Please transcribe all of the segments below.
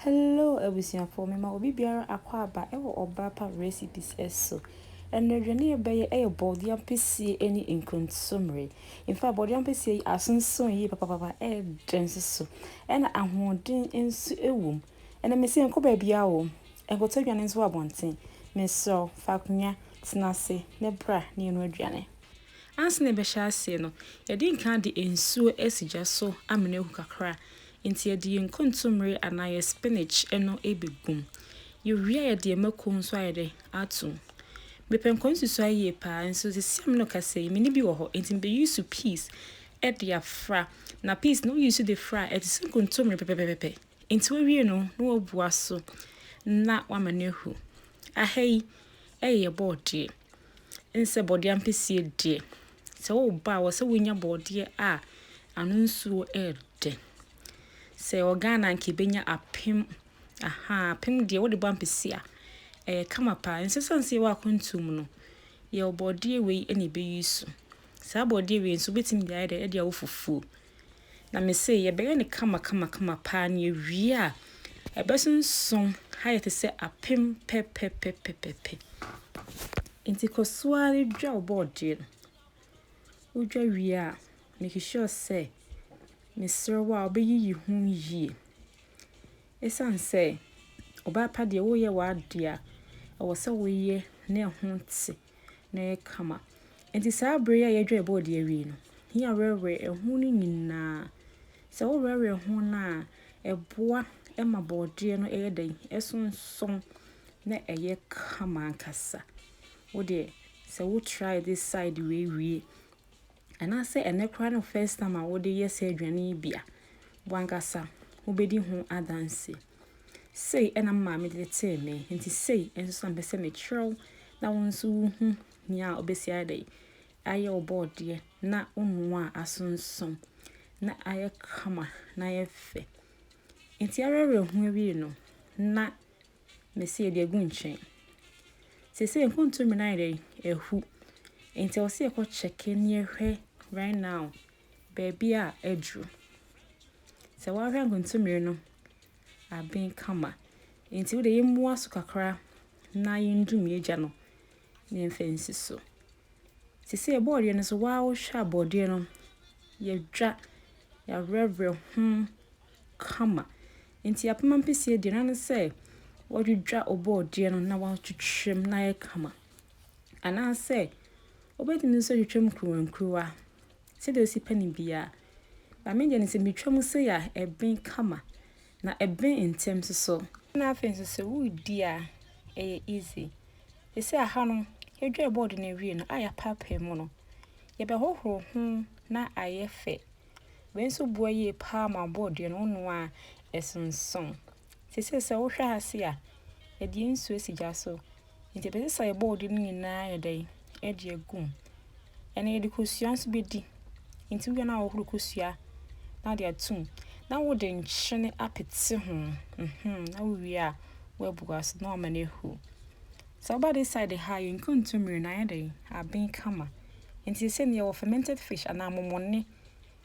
Hello abusuafoɔ mema obi biara akɔ aba wɔ Ɔbaapa Recipes so. Ɛnnɛ aduane a yɛbɛyɛ yɛ bɔɔdeɛ ampesie ne nkontomire. In fact bɔɔdeɛ ampesie yi asonson yie papapapa ɛɛdɛ nso so ɛna ahoɔden nso wɔ mu. Ɛnnɛ mese nkɔ baabiara o, nkɔtɔ aduane nso wɔ abɔnten. Mesrɛ wo fa akonnwa tena ase na bra na yɛnoa aduane. Ansa na yɛbɛhyɛ aseɛ no, yɛde nkan de nsuo asi gya so amena ahu kakra. Nti yɛde yɛn nkontommire anaa yɛn spinach no bɛgu mu. Yɛwie a yɛde yɛn mako nso ayɛ dɛn? Ato mu. Mepɛ nkɔnsusuae yie pa ara nso seesei a me ne wo kasa yi, menni bi wɔ hɔ nti mebɛ use peas de afra. Na peas no wo use de fra a, ɛte sɛ nkontommire pɛpɛpɛpɛ. Nti wowie no na wabua so na wama no ahu. Aha yi yɛ bɔɔdeɛ. Ɛne sɛ bɔdeɛ ampesie deɛ, sɛ woba a, wɔ sɛ wonya bɔdeɛ a ano nsuo ɛɛdɛ. Sɛ ɛwɔ Ghana anka ɛbɛnya apem, ahaa, apem deɛ wode bɔ ampesie a, ɛyɛ kama paa. Ɛnsɛ sɛ ɛsane sɛ yɛwɔ akwantuo mu no, yɛwɔ bɔdeɛ wei na ɛbɛyi su. Saa bɔdeɛ wei nso, wobɛtumi de ayɛ dɛ, de awɔ fufuo. Na mesee yɛbɛyɛ no kamakamakama paa na yɛwie a, ɛbɛsonsomm ayɛ te sɛ apem pɛpɛpɛpɛpɛ. Nti kɔ so ara dwa wo bɔɔdeɛ no. Wodwa wie a, make sure sɛ mesrɛ wo a wobɛyiyi ho yie. Ɛsiane sɛ ɔbaa pa deɛ woyɛ w'adeɛ a, ɛwɔ sɛ woyɛ na ɛho te. na ɛyɛ kama. Enti saa bere yi a yɛadwa ɛboɔ de awie no, yɛn a yɛwerɛwerɛ ɛho no nyinaa, sɛ wowerɛwerɛ ho no a, ɛboa ma borɔdeɛ no yɛ dɛn? Ɛsonsono na ɛyɛ kama ankasa. Wo deɛ, sɛ wo try this side wei wie anaasɛ ɛnnɛ koraa ne first time a wode yɛ saa aduane yi bi a, wo ankasa wobɛdi ho adanseɛ. Sei na me maame de tetee me, enti sei nso na mepɛ sɛ mekyerɛw na wo nso wuhu nea obesi ayɛ dɛ, ayɛ wo bɔɔdeɛ na wo noa a asonson na ayɛ kama na ayɛ fɛ. Enti awerɛwerɛ ho awie no, na mese yɛde agu nkyɛn. Seesei nkontomire no ayɛ dɛ? Ahu. Enti ɛwɔ sɛ yɛkɔ kyɛke na yɛhwɛ right now baabi a aduru. Sɛ woahwɛ nkontommire no aben kama. Enti wo deɛ yɛmmua so kakra na yɛndu mmiagya no na yɛmfa nsi so. Te sɛ bɔɔdeɛ no so waa wohwɛ a bɔɔdeɛ no yɛadwa, yɛawerɛwerɛ ho kama. Enti apem ampesie deɛ na ne sɛ wɔdwidwa wo bɔɔdeɛ no na wɔatwitwa mu na ayɛ kama. Anaasɛ wobɛtumi nso atwitwa mu nkuruwa nkuruwa sɛdeɛ ɔsi pɛ no biara. But me deɛ no sɛ metwa mu sei a ɛben kama na ɛben ntɛm nso so. Ɛna afei nso sɛ woredi a ɛyɛ easy. Ɛsɛ aha no yɛdware bɔɔdo no awie no a yɛapaapae mu no yɛbɛhohoro ho na ayɛ fɛ. Wei nso boa yie paa ma bɔɔdo no wonoa a ɛsonsono. Seesei sɛ wohwɛ ha se a, yɛde yɛn nsuo si gya so. Nti yɛbɛsɛ sɛ yɛbɔ odi no nyinaa yɛ dɛn? Yɛde agu mu. Ɛnna yɛde kosua nso bɛdi. Nti wowie no a wohoro kosua na wode ato mu. Na wode nkyene apete ho. Mhm, na wowie a woabua so na wama no ahu. Sɛ woba this side ha a, yɛn kontommire no ayɛ dɛn? Aben kama. Nti seesei no yɛwɔ fermented fish anaa momone.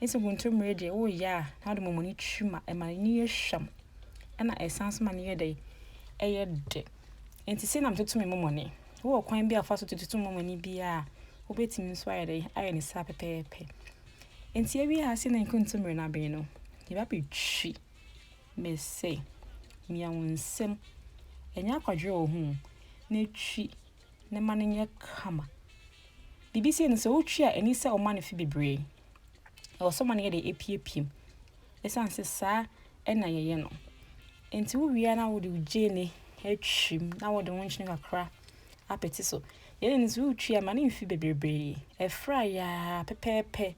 Ese kontomire deɛ woyɛ a na wode mɔmɔ no twi mu a ɛma n'ani yɛ hwam ɛna ɛsan so ma no yɛ dɛ ɛyɛ dɛ nti sei na metoto me mɔmɔ ne wowɔ kwan bi a fa so tototo mɔmɔ ne biara a wobɛtumi nso ayɛ dɛ ayɛ ne saa pɛpɛɛpɛ nti awie ha sei na nkontomire no abɛn no yɛba bɛtwi mese mia wo nsam ɛnyɛ akwadwerɛ wɔ ho na twi na ɛma no nyɛ kama. Biribi sei no sɛ wotwi a ɛni sɛ ɔma no fi bebree. Ɛwɔ sɛ ɔma no yɛ deɛ epiepiem. Ɛsiane sɛ saa ɛna yɛyɛ no. Nti wowie na wode wo gyeene atwim na wode wo nkyene kakra apete so. Yɛn no sɛ wotwi a ma no mfi bebree. Ɛfra yaa pɛpɛɛpɛ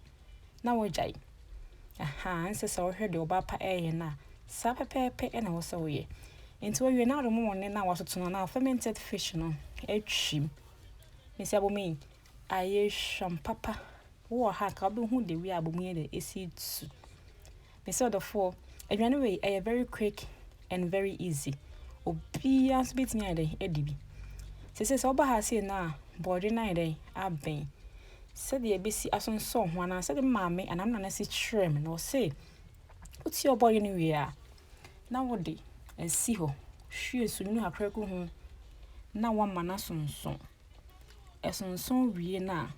na wagyae. Ahaa, ɛnsɛ sɛ wohwɛ deɛ ɔbaa pa reyɛ no a, saa pɛpɛɛpɛ na ɛwɔ sɛ woyɛ. Nti wawie na wode momone no a watoto no anaa fermented fish no atwim. Mesi abomi ayɛ hwam papa. Wowɔ ha ka wobɛhu the way a abomi yɛ dɛ ɛsi tu. Mese ɔdɔfoɔ aduane wei ɛyɛ very quick and very easy obiara nso bɛtumi ayɛ dɛn adi bi sese sɛ woba ha sei no a bɔɔdwe no ayɛ dɛn abɛn sɛdeɛ ɛbɛsi asonsɔ ho anaa sɛdeɛ maame anaa nana si kyerɛ me na ɔse wotie ɔbɔɔdwe no wie a na wode asi hɔ hwie sunwunu kakra gu ho na wama no asonson ɛsonson wie no a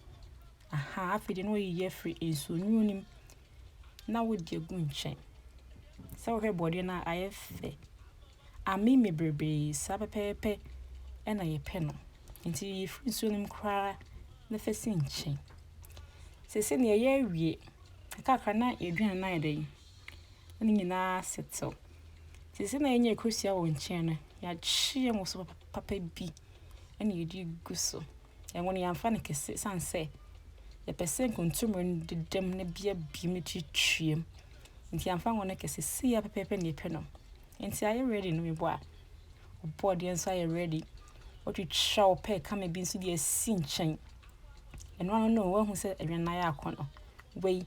aha afei de na ɔyiyi afiri nsuonwunu no mu na wode agu nkyɛn. Sɛ wohwɛ borɔdeɛ no a, ayɛ fɛ. Ameme bebree, saa pɛpɛɛpɛ na yɛpɛ no. Nti yiyi firi nsuo no mu koraa na fa si nkyɛn. Seesei no yɛyɛ awie. Kakra na yɛaduane no ayɛ dɛn? Na ne nyinaa asetew. Seesei na yɛanya kosua wɔ nkyɛn no, yɛakye ngo so papa bi na yɛde agu so. Ngo no yɛamfa no kɛse ɛsiane sɛ yɛpɛ sɛ nkontommire no dedam na bi abiem no twitwam nti yɛamfa ngo no kɛse si ya pɛpɛɛpɛ na yɛpɛ no nti ayɛ ready no mebɔ a ɔbɔ deɛ nso ayɛ ready ɔtwitwa wo pɛ kame bi nso deɛ asi nkyɛn ɛno ano no wahu sɛ aduane no ayɛ akɔnɔ wei